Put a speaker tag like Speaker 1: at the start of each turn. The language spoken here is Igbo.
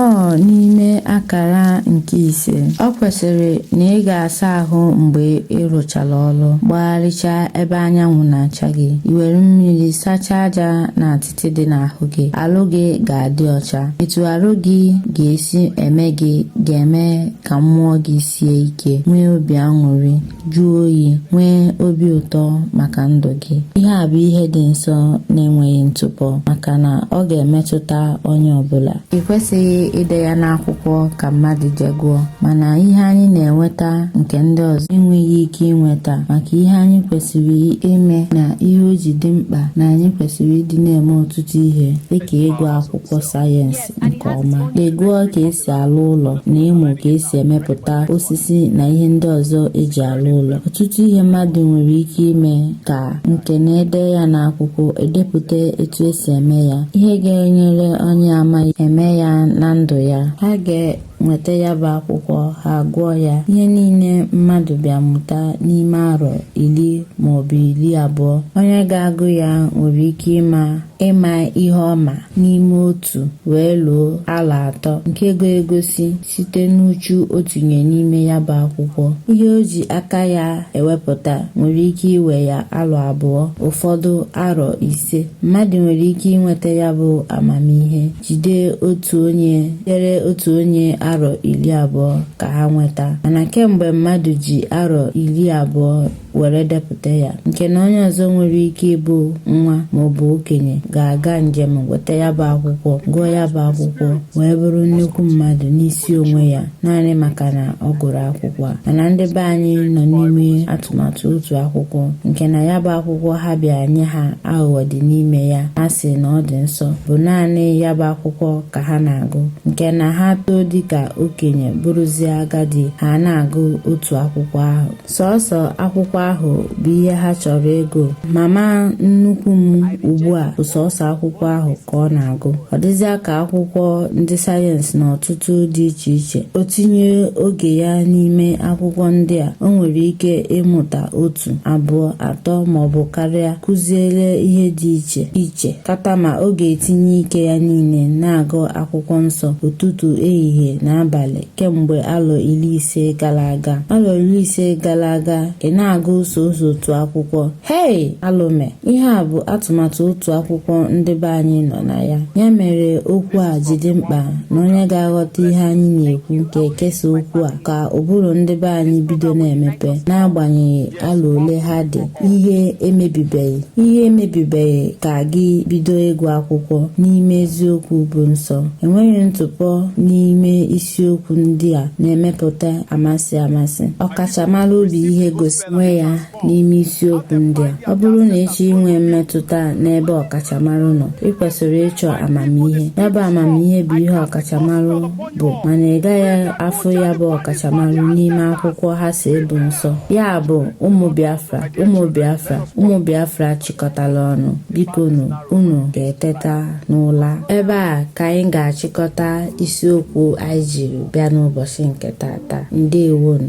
Speaker 1: Nnọọ n'ime akara nke ise, ọ kwesịrị na ị ga-asa ahụ mgbe ị rụchara ọrụ, gbagharịchaa ebe anyanwụ na-acha gị, i were mmiri sachaa aja na atịtị dị n'ahụ gị, arụ gị ga-adị ọcha. Etu arụ gị ga-esi eme gị ga-eme ka mmụọ gị sie ike, nwee obi aṅụrị. jụọ oyi nwee obi ụtọ maka ndụ gị ihe a bụ ihe dị nsọ na-enweghị ntụpọ maka na ọ ga-emetụta onye ọbụla ị kwesịghị ide ya n'akwụkwọ ka mmadụ jee gụọ mana ihe anyị na-enweta nke ndị ọzọ enweghị ike inweta maka ihe anyị kwesịrị ime na ihe o ji dị mkpa na anyị kwesịrị ịdị na-eme ọtụtụ ihe dịka ịgụ akwụkwọ sayensị nke ọma ịgụọ ka esi alụ ụlọ na ịmụ ka esi emepụta osisi na ihe ndị ọzọ eji alụ ụlọ ọtụtụ ihe mmadụ nwere ike ime ka nke na e dee ya n'akwụkwọ edepụta etu esi eme ya ihe ga-enyere onye ama eme ya na ndụ ya ha ga-enweta ya bụ akwụkwọ ha gụọ ya ihe niile mmadụ bịa mụta n'ime arọ iri maọbụ iri abụọ onye ga-agụ ya nwere ike ịma ịma ihe ọma n'ime otu wee luo alọ atọ nke ga-egosi site n'uchu o tinye n'ime ya bụ akwụkwọ ihe o ji aka ya ewepụta nwere ike iwe ya alọ abụọ ụfọdụ arọ ise mmadụ nwere ike inweta ya bụ amamihe jide otu onye jere otu onye arọ iri abụọ ka ha nweta mana kemgbe mmadụ ji arọ iri abụọ were depụta ya nke na onye ọzọ nwere ike ịbụ nwa ma ọ bụ okenye ga-aga njem weta ya bụ akwụkwọ gụọ ya bụ akwụkwọ wee bụrụ nnukwu mmadụ n'isi onwe ya naanị maka na ọ gụrụ akwụkwọ a mana ndị be anyị nọ n'ime atụmatụ otu akwụkwọ nke na ya bụ akwụkwọ ha bịa nye ha aghụghọ dị n'ime ya ha sị na ọ dị nsọ bụ naanị ya bụ akwụkwọ ka ha na-agụ nke na ha too dịka okenye bụrụzie agadi ha na-agụ otu akwụkwọ ahụ sọsọ akwụkwọ ahụ bụ ihe ha chọrọ ịgụ mama nnukwu m ugbu a bụ sọsọ akwụkwọ ahụ ka ọ na-agụ ọ dịzịa ka akwụkwọ ndị sayensị na ọtụtụ dị iche iche o tinye oge ya n'ime akwụkwọ ndị a o nwere ike ịmụta otu abụọ atọ maọbụ karịa kụziere ihe dị iche iche tata ma ọ ga-etinye ike ya niile na-agụ akwụkwọ nsọ ụtụtụ ehihie na abalị kemgbe alọ iri ise gara aga alọ iri ise gara aga ị na-agụ sọsọ otu akwụkwọ hei alụ emee ihe a bụ atụmatụ otu akwụkwọ ndị be anyị nọ na ya ya mere okwu a ji dị mkpa na onye ga-aghọta ihe anyị na-ekwu ga-ekesa okwu a ka ụbụrụ ndị be anyị bido na-emepe n'agbanyeghị alọ ole ha dị ihe emebibeghị ihe emebibeghị ka gị bido ịgụ akwụkwọ n'ime eziokwu bụ nsọ enweghị ntụpọ n'ime isiokwu ndị a na-emepụta amasị amasị ọkachamara obi ihe gosi onwe ya n'ime isiokwu ndị a ọ bụrụ na ị chọọ inwe mmetụta n'ebe ọkachamara nọ ị kwesịrị ịchọ amamihe ya bụ amamihe bụ ihe ọkachamara bụ mana ị gaghị afụ ya bụ ọkachamara n'ime akwụkwọ ha sị ọ bụ nsọ ya bụ ụmụ biafra ụmụ biafra ụmụ biafra chịkọtala ọnụ bikonụ unu ga-eteta n'ụla ebe a ka anyị ga-achịkọta isiokwu anyị jiri bịa n'ụbọchị nke tata ndewonu